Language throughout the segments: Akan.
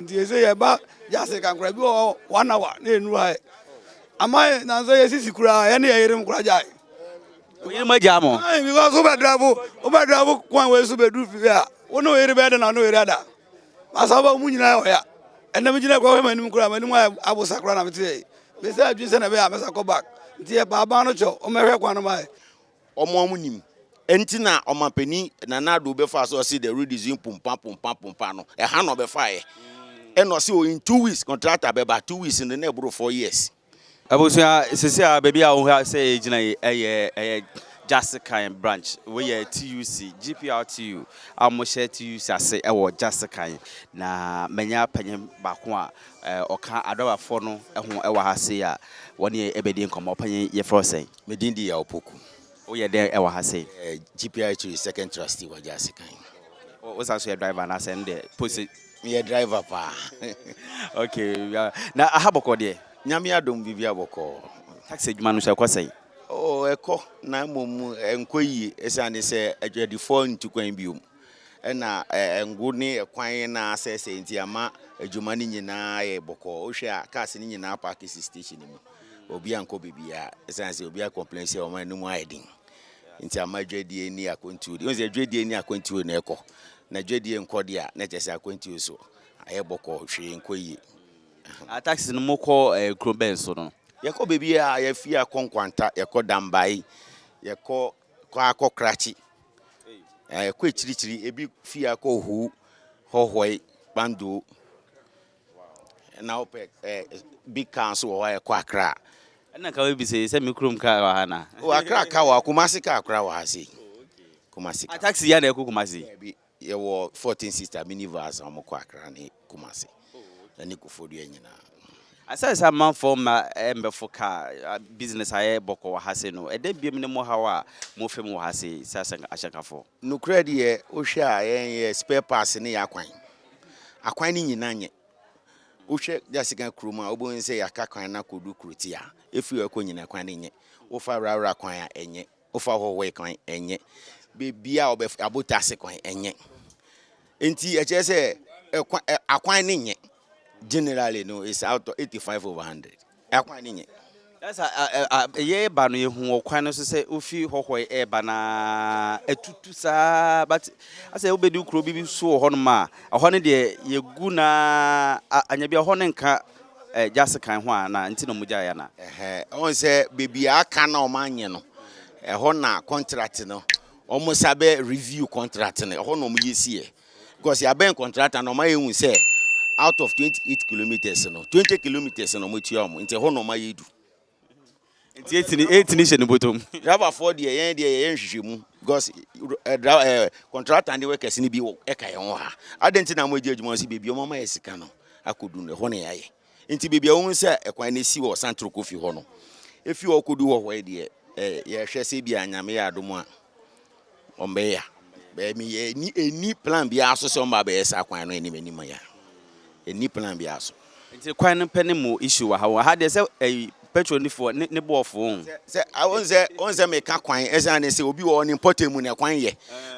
Nti yɛsɛ yɛba wiase kankora bi wɔ hɔ one hour na yɛnuru ha ɛ. Ama yɛ nanso yɛ sisi koraa yɛ ne yɛ yerem koraa gyae. Oyere mo agyaa mo? Ayi because wobɛ drive wobɛ drive kwan wei so bɛduru fie a wo ne oyere bɛyɛ dɛ na ne oyere ada. Masa wobɛ mu nyinaa yɛ ɔya. Ɛnna me gyina kɔ hwɛ m'anim koraa m'anim ayɛ abosa koraa na mete yɛ yi. Mesɛ adwene sɛ na ɛbɛyɛ a mɛsa kɔ back. Nti yɛpa aban no kyɛ wɔmmɛhwɛ kwan no ma yɛ. Wɔn a wɔn nim. Ɛnti na ɔmanpani Nana Addo bɛfaa so ɔse the road is in pompa pompa pompa no ɛha na ɔbɛfaeɛ ɛna ɔse o in two weeks contractor bɛba two weeks no na ɛboro four years. Abusua sisi a baabi a wohwɛ sɛ yɛgyina yi ɛyɛ ɛyɛ Gyasekan branch wei yɛ TUC GPRTU a wɔhyɛ TUC ase ɛwɔ Gyasekan na manya panyin baako a ɔka adɔbafoɔ no ɛho ɛwɔ ha sei a wɔne yɛ ɛbɛdi nkɔmɔ panyin yɛfrɛ sɛn. Me din de Yaw Poku. Woyɛ dɛn wɔ ha sei? Meyɛ GPIH second trustee wɔ Gyasi kan. Wo san so yɛ driver anaasɛ ɛno deɛ posi? Meyɛ driver paa. Okay, na aha bɔkɔɔ deɛ? Nyame adom biribiara bɔkɔɔ. Taxi adwuma no nso ɛkɔ sɛn? Oh, ɛkɔ na mmom ɛnkɔ yie ɛsiane sɛ adwadifoɔ ntu kwan biom ɛna ngo ne ɛkwan na asɛesɛe nti ama adwuma no nyinaa yɛ bɔkɔɔ. Wohwɛ a cars no nyinaa paake si station no mu. obi ankɔ baabiara ɛsiane sɛ obi akɔmplɛn sɛ wɔn anim ayɛ den nti ama adwadie ni akwantuo deɛ sɛ adwadie ni akwantuo na ɛkɔ na adwadie nkɔ deɛ a na kyɛ sɛ akwantuo so ayɛ bɔkɔ hwee nkɔ yie. Ataxi no mokɔ eh, kuro bɛn so no? Yɛkɔ baabi a yɛfi akɔ Nkwanta, yɛkɔ Dambae, yɛkɔ kɔ akɔ Krakye, yɛkɔ akyirikyiri, ebi fi akɔ Ohu, Hɔhɔe, Kpandoo. Ɛna wopɛ eh, big car nso wɔ hɔ a ɛkɔ akra. Ɛna ka wobisa yi sɛ me kurom car wɔ ha na. O akra car wɔ ha, kumasi car kora wɔ ha sei. Kumasi car. A taxi ya na ɛkɔ kumasi. Bi yɛwɔ 14 sister minivans a wɔkɔ akra ne kumasi. Ɛne kofodua nyinaa. Asɛ sɛ amanfoɔ mma mbɛfo car business ayɛ bɔkɔ wɔ ha sei no, ɛdɛ biam ne mo haw a mo fam wɔ ha sei sɛ ahyɛnkafoɔ? Nokorɛ deɛ, wohwɛ a yɛn yɛ spare parts ne yɛ akwan. Akwan no nyina nye. Wohwɛ Jasigan kuro mu a wobɛhu sɛ yɛaka kwan no akɔdu Kurotia a, ɛfiri hɔ kɔ nyina kwan no nye. Wofa Rawra kwan a, ɛnye. Wofa Hohoe kwan, ɛnye. Baabiara a wobɛfa, Abotase kwan, ɛnye. Nti ɛkyerɛ sɛ ɛkwa, ɛ, akwan no nye. Generally no, it's out of 85 over 100. Akwan no nye. Na sɛ yɛreba no, yehu wɔ kwan no so sɛ wofi hɔhɔe reba na atutu saa. But asɛ wobedu kurow bi so wɔ hɔnom a, ɛhɔ no deɛ yegu na anya bi a hɔ no nka eh, gyase kan ho a na nti na wɔgyae ana? Ɛhɛ, wɔn sɛ beebi a aka na wɔn anyɛ no, ɛhɔ na contract no wɔn sa bɛ review contract no, ɛhɔ na wɔn yɛ si yɛ. Because yɛabɛn kɔntrata no ɔma yɛhu sɛ out of 28 kilometers no 20 kilometers na ɔmatua ɔmo nti ɛhɔ na ɔma yɛdu nti ɛtini ɛtini hyɛ ne bɔtɔm driverfoɔ deɛ yɛn deɛ yɛyɛ nhwehwɛ mu because kɔntrata ne workers no bi ɛka yɛn ho ha adɛn nti na mo agye adwuma sɛ baabi ɔma ma yɛ sika no akɔdu no ɛhɔ na yɛayɛ Nti baabi a wohu sɛ ɛkwan no si hɔ san toro kɔ fi hɔ no, efi hɔ kɔdu hɔ hɔ deɛ, yɛhwɛ sɛ bi a nyame yɛ adom a ɔmbɛya. Bɛmi yɛ ni ɛni plan bi aso sɛ ɔmba bɛyɛ saa kwan no anim anim ya. Ɛni plan bi aso. Nti kwan no pɛ ne mo issue wɔ ha wɔn. Ha deɛ sɛ ɛyi petrol ni foɔ ne ne bɔɔ foo. Sɛ wɔn sɛ wɔn sɛ meka kwan ɛsan ne sɛ obi wɔ ne mpɔtɛ mu na kwan yɛ.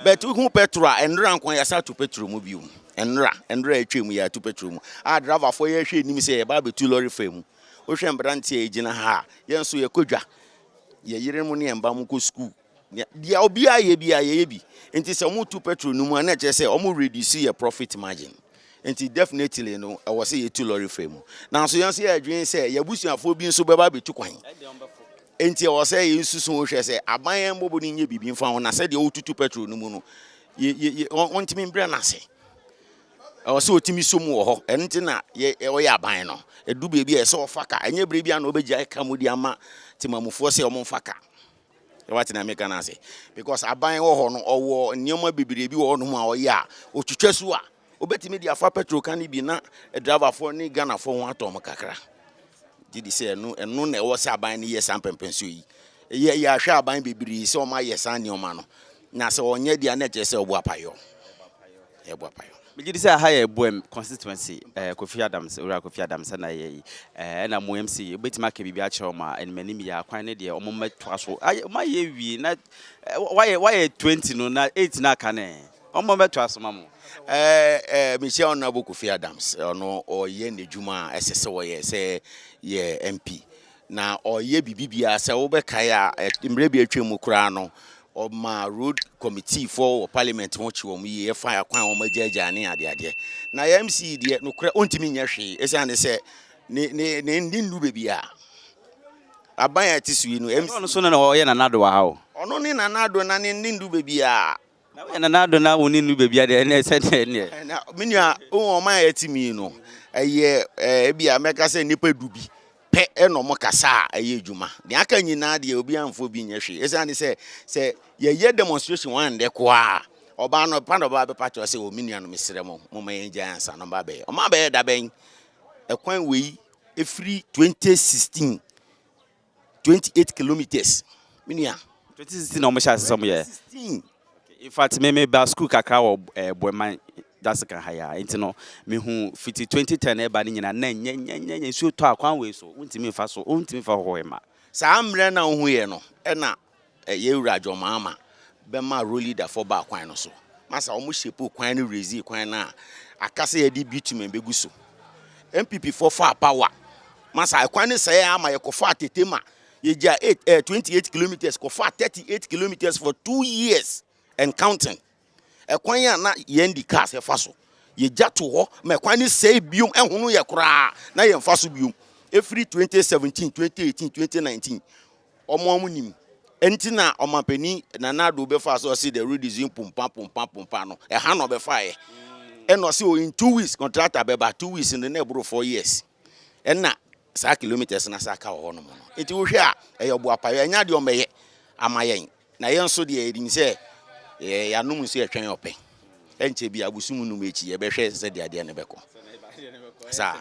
Bɛtu hu petrol a ɛnora nko yasa to petrol mu bi mu. Mmra mmra a atwam yi atu petrol mu a driverfoɔ yɛ hwɛ anim sɛ yɛba abɛtu lɔre fa mu. Wohwɛ mmeranteɛ a ɛgyina ha a, yɛn nso yɛkɔ dwa. Yɛ yere mu ne yɛn ba mu kɔ sukuu. Deɛ obiara yɛ biara yɛyɛ bi. Nti sɛ wɔtu petrol no mu a na ɛkyerɛ sɛ wɔn reduce yɛ profit margin. Nti definitely no ɛwɔ sɛ yɛtu lɔre fa mu. Nanso yɛn nso yɛdwene sɛ yɛabusuafoɔ bi nso bɛba abɛtu kwan. Enti ɛwɔ sɛ yesusu ho hwɛ sɛ aban a ɛmmɔbɔ no nyɛ biribi mfa ho, na sɛ deɛ ɔretutu pɛtro no mu no, ɔntumi mbrɛ no ase. Ɛwɔ sɛ ɔtumi so mu wɔ hɔ. Ɛno nti na ɔyɛ aban no. Ɛdu baabi a ɛsɛ ɔfa ka. Ɛnyɛ berɛ bi a na ɔbɛgyae ka mu de ama temamufoɔ sɛ wɔmfa ka. Wate na meka no ase? Because aban wɔ hɔ no, ɔwɔ nneɛma bebree bi wɔ hɔnom a ɔyɛ a, ɔtwitwa su a, Wobɛtumi de afa pɛtrol ka no bi na driverfoɔ ne Ghanafoɔ ho atɔ wɔn kakra. Gye di sɛ ɛno, ɛno na ɛwɔ sɛ aban no yɛ saa mpɛmpɛnsoɔ yi. Yɛ yɛahwɛ aban bebree sɛ wɔn ayɛ saa nneɛma no. Na sɛ wɔnyɛ deɛ na ɛkyerɛ sɛ ɛbɔ apayɔ. Ɛbɔ apayɔ. Megye di sɛ aha yɛ Boem constituency, eh, Kofi Adams, Owura Kofi Adams na ɛyɛ yi. Eh, ɛna mo MC, wobɛtumi aka biribi akyerɛ wɔn a anim anim yɛ akwan no deɛ wɔn mmɛtoa so. Ayɛ, wɔayɛ wie na eh, wɔayɛ, wɔayɛ 20 no na 8 no aka no eh. Ɔma mɛto aso ma mo. Ɛɛ mehyia Honourable Kofi Adams, ɔno ɔyɛ n'adwuma a ɛsɛ sɛ ɔyɛ sɛ yɛ MP na ɔyɛ biribi biara sɛ wobɛkae a mmerɛ bi atwam mu koraa no ɔma road committee foɔ wɔ parliament ho kye wɔn yie ɛfa akwan wɔn agyaagyaa ne adeadeɛ na yɛ MC deɛ nokorɛ ɔntumi nyɛ hwee ɛsiane sɛ ne ne ne ne nnu baabi a aban a ɛte so yi no MC ɔno so na ɔyɛ nanado wɔ ha o ɔno ne nanado na ne ne ndu baabi a Na woyɛ nanado na wo ne no ba bia deɛ ɛnɛ ɛsɛ deɛ ɛneɛ. Na me nua wohu wɔn a ɛte mi no ɛyɛ ebi a mɛka sɛ nipa du bi pɛ ɛna wɔn kasa a ɛyɛ adwuma deɛ aka nyinaa deɛ obi anfa obi nyɛ hwee ɛsan ne sɛ sɛ yɛyɛ demonstration wɔn andɛ koraa ɔbaa no pa na ɔbaa bɛpa kyɛw sɛ o me nua no mesrɛ mo mo ma yɛn gya ansa no ba bɛyɛ wɔn abɛyɛ dabɛn ɛkwan wei efiri 2016 twenty eight kilometres me nua. twenty sixteen na wɔn hyɛ ase sɛ wɔn yɛ. twenty sixteen. in fact me me ba school kakra wɔ ɛɛ eh, bɔnman dasika ha ya nti no me hu fiti twenty ten ɛba ne nyinaa na nyɛ nyɛ nyɛ nyɛ nsuo tɔ akwan wei so wontumi nfa so wontumi nfa hɔ ɛma. saa mmerɛ na ohun yɛ no ɛna Yɛ wura John Mahama bɛ ma Road Leader foɔ baa kwan no so. Masa ɔmo shapoo kwan no releasee kwan no a aka sɛ yɛde bitumen bɛgu so. NPP foɔ faa power. Masa ɛkwan no sɛɛɛ ara ma yɛkɔfaa Tetema. Yɛgyaa eight, eh, 28 kilometres kɔfaa 38 kilometres for two years and counting. Ɛkwan a na yɛn de cars fa so, yɛgya to hɔ ma ɛkwan no sɛe biom, ɛhono yɛ koraa na yɛn fa so biom. Ɛfiri 2017, 2018, 2019, ɔmo ɔmo nim. Ɛnti na ɔmampani Nana Addo bɛfaa sɛ ɔse the road is in pompa, pompa, pompa no, ɛha na ɔbɛfaeɛ. Ɛna ɔse o in two weeks contractor bɛba, two weeks no na ɛboro four years. Ɛna. Saa kilometres no ase aka wɔ hɔnom no, nti wohwɛ a ɛyɛ ɔboapaeɛ, ɛnyɛ adeɛ ɔmbɛyɛ ama yɛn, na yɛn nso deɛ yɛnim sɛ yɛanom nsu yɛtwɛn ɔpɛ, ɛnkyɛ bi abosom nnum akyi yɛbɛhwɛ sɛdeɛ adeɛ no bɛkɔ. Saa.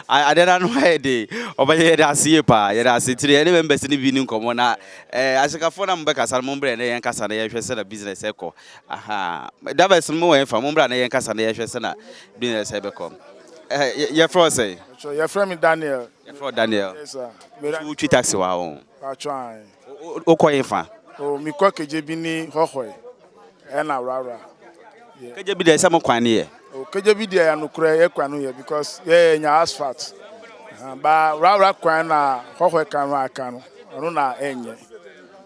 Adeɛ no ano ayɛ de, ɔbɛyɛ yɛde ase yie paa, yɛde ase nti yɛne members no bi ne nkɔmmɔ na ɛɛ ahyekafoɔ na mobɛkasa no mombrɛ na yɛn kasa na yɛhwɛ sɛ na business ɛkɔ, aha, dabɛs no mo wɔ ɛnfa, mombrɛ na yɛn kasa na yɛhwɛ sɛ na business ɛbɛkɔ. Eh, yɛfrɛ wo sɛn? Yɛfrɛ me Daniel. Yɛfrɛ wo Daniel. Yes sir. Wotwi taxi wɔ ha o. Patwaan. Wokɔ yɛn fa? Oh, mekɔ Kegyebini hɔhɔe ɛna Awrawra. Kegyebini deɛ sɛ mo kwan ne yɛ? Oh, Kegyebini deɛ yɛ nokorɛ yɛ kwan no yɛ because yɛ nya asphalt. Ba Awrawra kwan na hɔhɔe kan no aka no, ɔno na ɛnyɛ.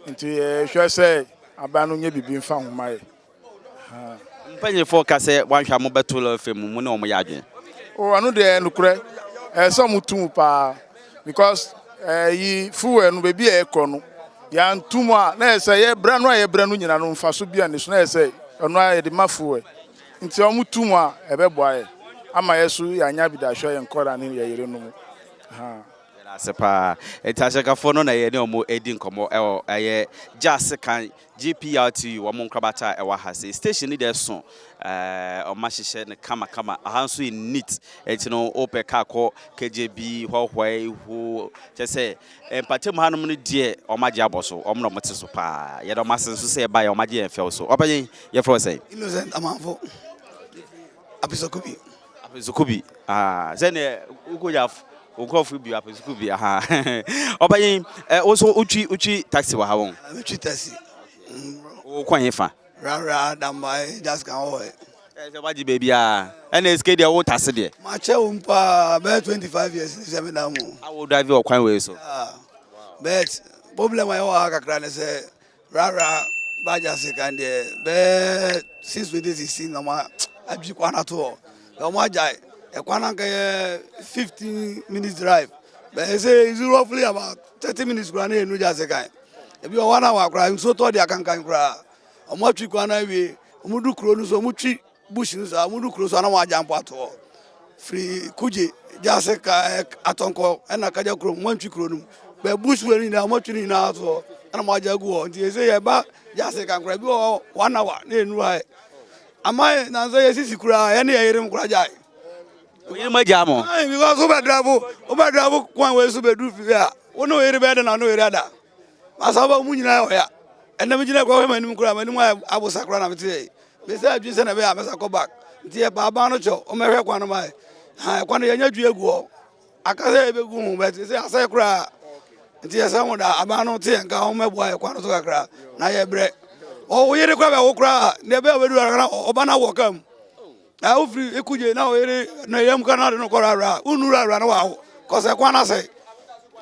Nti yɛhwɛ sɛ aban no nyɛ biribi mfa ho ma yɛ. Ha. Mpanyinfoɔ ka sɛ wanhwɛ a mobɛto lɔre fam mu, mo ne wɔn yɛ adwene. Oh ɛno deɛ nokorɛ ɛyɛ sɛ wɔn tu mu paa because ɛyi eh, fuel no baabi a ɛkɔ no yɛn tu mu a na yɛ sɛ yɛ brɛ no a yɛ brɛ no nyina no nfaso bi a ne so na yɛ sɛ ɛno a yɛde ma fuel nti wɔn tu mu a ɛbɛboa yɛ ama yɛ so yɛ anya bi da ahwɛ yɛn kɔra ne yɛ yere no mu ha. ase paa nti ahyɛkafoɔ no na yɛne ɔmo adi nkɔmmɔ ɛwɔ ɛyɛ gya sekan GPRTU wɔn nkorabata a ɛwɔ ha sei station no deɛ ɛso ɛɛ wɔn ahyehyɛ no kama kama aha nso yɛ neat ɛti no wopɛ kaa kɔ KJB hɔhɔɛ ho kyɛ sɛ mpatam hanom no deɛ wɔn agye abɔ so wɔn na wɔn te so paa yɛde wɔn ase nso sɛ ɛba yɛ wɔn agye yɛn fɛw so ɔpɛ yɛn yɛfrɛ sɛ. Innocent Amanfo. Apesukubi. Apesukubi. Ah, sɛ ne ukoja nkurɔfo bi apesukubi. Aha. Ɔbɛyi, eh, wo so utwi utwi taxi wɔ ha wɔn. Utwi taxi. Wo kwan he fa. Rara damba e just kan wɔ he. Eh, sɛ wagye baabi a. Ɛna esike deɛ wo tase deɛ. Makyɛ wo mpa, bɛyɛ 25 years ni sɛ me da mu. Awo drive wɔ kwan wei so. Ah. But problem a yɛwɔ ha kakra ne sɛ Rara bagya se kan deɛ bɛɛ six twenty sixteen na wɔn adwi kwan ato hɔ na wɔn agyae ɛkwan anka yɛ fifteen minutes drive bɛyɛ sɛ is roughly about thirty minutes koraa na yɛn nugya se kan ebi wɔ one hour koraa nsuo tɔ de akankan koraa wɔn atwi kwan no awie wɔn du kuro no so wɔn twi. Bush no so a, wɔdu kuro so a na wɔagya mpoatoɔ firi Kuje, Gyase, ka ɛɛ Atɔnkɔ ɛna Kagya kurom, wɔantwi kuro no mu. Bɛ Bush wura no nyinaa wɔatwi no nyinaa toɔ ɛna wɔagya agu hɔ. Nti ɛsɛ yɛba Gyase kankora ebi wɔ hɔ one hour na ɛnuru ha ɛ. Ama yɛ nansa yɛsisi koraa yɛne yɛ yere mo koraa gyae. Oyere mo agya mo? Ayi because wobɛ drive wobɛ drive kwan wei so bɛduru fie a wo ne oyere bɛyɛ dɛ na wo ne oyere ada. Masa aba mu nyinaa ɔya. Ɛnna me gyina kura hwɛ m'anim kura m'anim ayɛ abosa kura na me teɛ yi. Me sɛ adwene sɛ na ɛbɛyɛ a mɛsa kɔ back. Nti yɛ pa aban no kyɛ o, wɔn ɛhwɛ kwan no ma yɛ. Ha ɛkwan no yɛ nya dwi egu hɔ. Aka sɛ yɛ bɛgu ho bɛt sɛ asɛ kura. Nti yɛ sɛ wɔn da aban no teɛ nka wɔn ɛboa yɛ kwan no so kakra na yɛ brɛ. Ɔwɔ yere kura bɛ wo kura na ɛbɛyɛ ɔbɛdu ara na ɔba na wɔ kam. Na wofiri ekugye na oyere ne yam kora na ɔde no kɔ rara a wonu rara na wawo kɔsɛ kwan na sɛ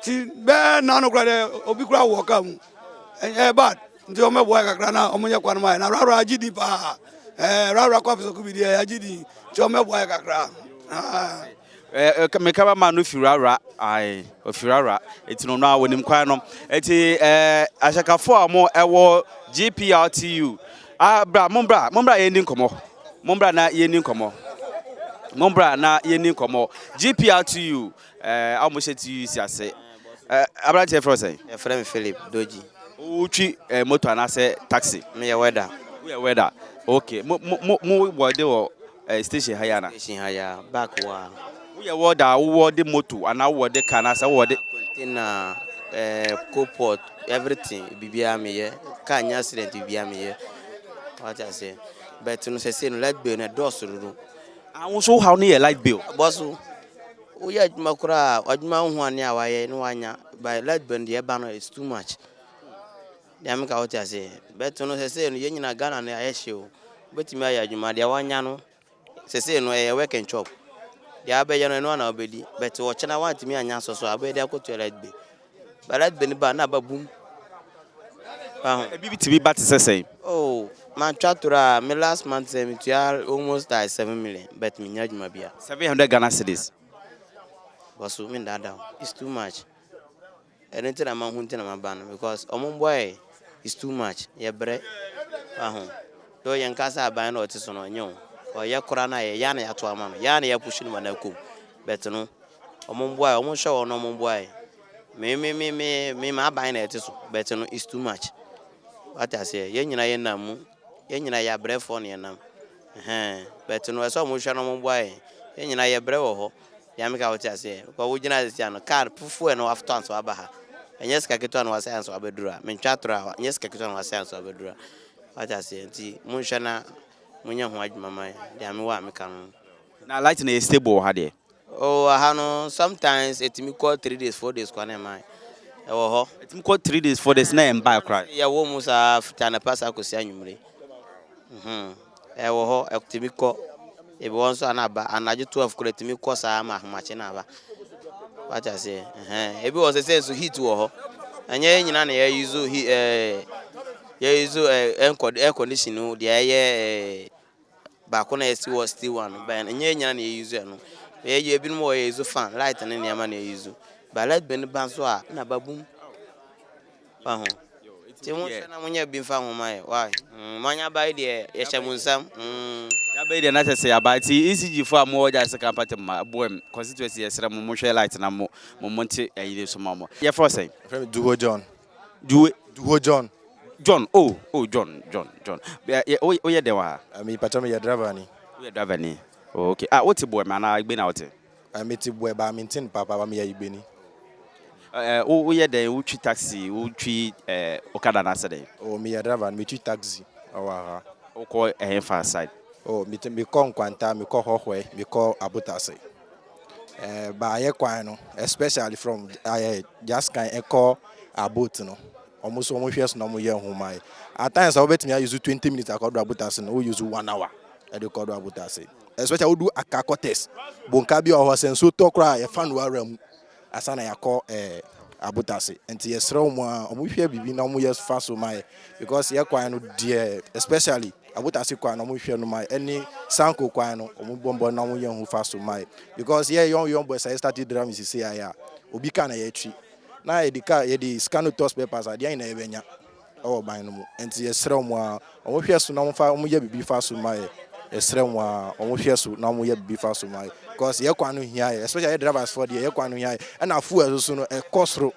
ti bɛɛ na no kora dɛ obi kora wɔ kaa mu ɛyɛ bad nti wɔn bɛboa kakra na wɔn nyɛ kwan mu ayɛ na rara agye di paa ɛɛ rara kɔ afisɛ ko bi deɛ agye di nti wɔn bɛboa kakra aa. Eh, eh, meka bɛma no firawura ae ofirawura ɛti no no a wɔnim kwan no ɛti eh, ahyɛkafoɔ a wɔn ɛwɔ gpltu ah, bra mombra mombra yɛndi nkɔmmɔ mombra na yɛndi nkɔmmɔ mombra na yɛndi nkɔmmɔ gpltu eh, a wɔhyɛ tu si ase eh, aberanteɛ frɛ sɛn yɛfrɛ me philip dogyi wotwi eh, moto anaasɛ taxi meyɛ wɛda woyɛ wɛda ok mo mo mo wɔ de wɔ Ɛyɛ station ha yi ana? Station ha yi a, back hɔ a. Wo yɛ wɔ da a wo wɔ de moto anaa wo wɔ de car anaa sɛ wo wɔ de. Container, eh, coal pot, everything, biribiara me yɛ. Car nya accident biribiara me yɛ. Wate aseɛ? But no sɛsei no light bill no ɛdɔɔso dodo. Ah, wo nso wo haw no yɛ light bill? Ɛbɔ so. Wo yɛ adwuma koraa, adwuma ho a ne a wayɛ ne wanya, but light bill no deɛ ɛba no it's too much. Nea meka wote ase. Bɛto no sesei no yɛn nyinaa Ghana no ayɛ hye o. Wobɛtumi ayɛ adwuma deɛ woanya no sesei no ɛyɛ work and chop. Deɛ wobɛyɛ no ɛno ara na wobɛdi but ɔkyena woantumi anya asɔ so a wobɛyɛ de akɔtua light bill. But light bill no ba na aba bum. Waho. Ebi bi tumi ba te sɛ sɛn? Oh matwa toro a me last month sɛ metua almost like seven million but mennya adwuma bia. Seven hundred Ghana cedis. Bosu mendaadaa wo it's too much. Ɛno nti na mahu nti na maba no because ɔmo mboa yɛ is too much yɛ brɛ waho though yɛn ka sɛ aban na ɔte so no ɔnyɛ o because yɛ kora no ayɛ yaa na yɛato ama no yaa na yɛ push no ma no akɔ mu but no ɔmo mboa yɛ ɔmo hwɛ wɔn na ɔmo mboa yɛ me me me me me ma aban na ɛte so but no is too much wate aseɛ yɛn nyina yɛ nam mu yɛn nyina yɛ abrɛfoɔ na yɛ nam ɛhɛn but no ɛsɛ ɔmo hwɛ na ɔmo mboa yɛ yɛn nyina yɛ brɛ wɔ hɔ Nyame ka wo te aseɛ because wo gyina ha sɛsi a no car fufuo ɛno watɔ ansa waba ha ɛnyɛ sika ketewa na wasɛe ansa wabɛduru ha mentwa atorɔ a ɛnyɛ sika ketewa na wasɛe ansa wabɛduru ha wate aseɛ nti monhwɛ na monyɛ ho adwuma ma deɛ mewɔ a meka no Na light na yɛ stable wɔ ha deɛ? Oh aha no sometimes ɛtumi kɔ three days four days koraa na ɛmma ɛwɔ hɔ. Ɛtumi kɔ three days four days na ɛmma koraa. Yɛwɔ mu saa fiti anapa saa kɔsi anwummere. Ɛwɔ hɔ, ɛtumi kɔ, ebi hɔ nso a na aba anadwo twelve koraa ɛtumi kɔ saa ma ahomakye na aba. Wate aseɛ? Ɛhɛn. Ebi wɔ sɛsɛ nso heat wɔ hɔ. Ɛnyɛ yɛn nyinaa na yɛ use he ɛɛ yɛ use ɛɛ air condition no deɛ ɛyɛ ɛɛ baako na yɛsi wɔ steel one no bɛn ɛnyɛ yɛn nyinaa na yɛ use ɛno. Yɛ yɛ ebinom wɔ yɛ use fan light ne nneɛma na yɛ use. Ba light bɛn ba nso a na aba boom. fa ho nti mo nhwɛ na mo nyɛ bi nfa ho ma yɛ why mm mo anya bae deɛ yɛhyɛ mo nsam mm. Yabae deɛ na sɛ sɛ yaba nti ECG fo a mo wɔ gya sika mpate ma boem constituency yɛsrɛ mo mo hwɛ light na mo mo mo nte ɛyi ne so ma mo yɛfrɛ wo sɛn. Yɛfrɛ me Duho John. Duwe. Duho John. John oh oh John John John yɛ wo wo yɛ dɛn wɔ ha. Me patɔ me yɛ driver ni. Wo yɛ driver ni oh okay ah wo te boem anaa Egbena wo te. Eh, me te boɛ ba me nte no papa ba me yɛ igbeni. Oh, eh, wo wo yɛ dɛn wo twi taxi wo twi eh, okada na sɛ dɛn. Oh, me yɛ driver no me twi taxi ɛwɔ aha. Wo kɔ ɛhɛn fa side. Oh, me te me kɔ nkwanta me kɔ hɔhɔɛ me kɔ abotase. Eh, ba ayɛ kwan no especially from ayɛ just kan ɛkɔ abot no ɔmo so ɔmo hwɛ so na ɔmo yɛ nhoma yɛ at times a wobɛtumi ayusu twenty minutes akɔ do abotase no wo yusu one hour ɛde kɔ do abotase. Especially wodu Accra quarters, bonka bi wɔ hɔ sɛ nsuo tɔ koraa a yɛfa no ara mu ansa na yɛakɔ eh, abotase. Nti yɛsrɛ wɔn a wɔhwɛ biribi na wɔyɛ fa so ma yɛ because yɛ kwan no deɛ especially abotase kwan no wɔhwɛ no ma yɛ ɛne sanko kwan no wɔbɔmbɔ na wɔyɛ ho fa so ma yɛ because yɛ young young boys a yɛ start drum sisi ayɛ a obi ka na yɛtwi na yɛde ka yɛde sika no tɔ spare parts adeɛ nyinaa yɛbɛnya. wɔ ban no mu nti yɛsrɛ wɔn aa wɔn hwɛ so na wɔn fa wɔn yɛ bibi fa so ma yɛ yɛsrɛ wɔn aa wɔn hwɛ so na wɔn yɛ bibi fa so ma yɛ cause yɛ kwan no hia yɛ especially yɛ drivers fɔ deɛ yɛ kwan no hia yɛ ɛna fuel ɛso so no ɛkɔ soro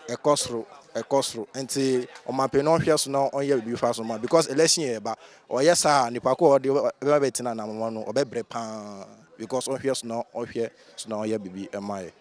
ɛkɔ soro ɛkɔ soro nti ɔmanpanin no ɔhwɛ so na ɔnyɛ bibi fa so ma because election yɛ ɛba ɔyɛ saa nipa ko ɔde ɛbɛma bɛ tena anamɔn no ɔbɛbrɛ paa because ɔhwɛ so na ɔhwɛ so na ɔyɛ bibi ɛma yɛ.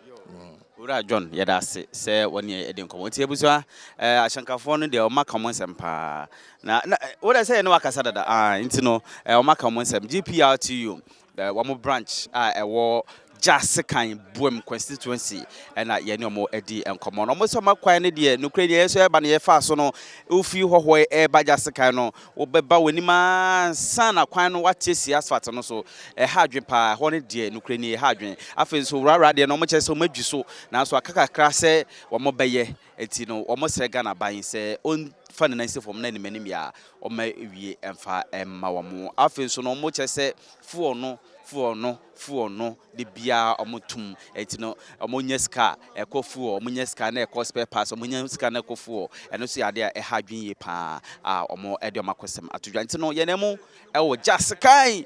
Owura John, yɛda ase sɛ wɔ ne yɛde nkɔmmɔ. Nti abusua, eh, ahyɛnkafoɔ no deɛ wɔn aka wɔn nsɛm paa. Na, na, eh, wo deɛ sɛ yɛ ne wakasa dada, ah, nti no, eh, wɔn aka wɔn nsɛm. GPRTU, eh, wɔn branch a ɛwɔ Gyasekan Buam constituency ɛna yɛ ne wɔn adi nkɔmmɔ. Na wɔn sɛ wɔn akwan no deɛ, nokorɛ deɛ yɛn nso yɛba no yɛfaa so no, wofiri Hɔhoɛ ɛreba Gyasekan no, Wobɛba w'anim ara ansa na kwan no w'ate si asfalt no so. Ɛha adwen paa, ɛhɔ no deɛ nokorɛ nie ɛha adwen. Afei nso wrawra deɛ no wɔn kyerɛ sɛ wɔn adwi so nanso aka kakra sɛ wɔn bɛyɛ nti no wɔn srɛ Ghana aban sɛ ɔn fa ne nan si fam na anim anim yɛ a wɔn awie mfa mma wɔn. Afei nso no wɔn kyerɛ sɛ fuel no fuel no. fuel no de biara ɔmo tum ɛti no ɔmo nya sika a ɛkɔ fuel ɔmo nya sika na ɛkɔ spare parts ɔmo nya sika na ɛkɔ fuel ɛno so yɛ adeɛ a ɛha adwene yie paa a ɔmo ɛde ɔmo akɔ sɛm ato dwa nti no yɛn ɛmo ɛwɔ gya sekan.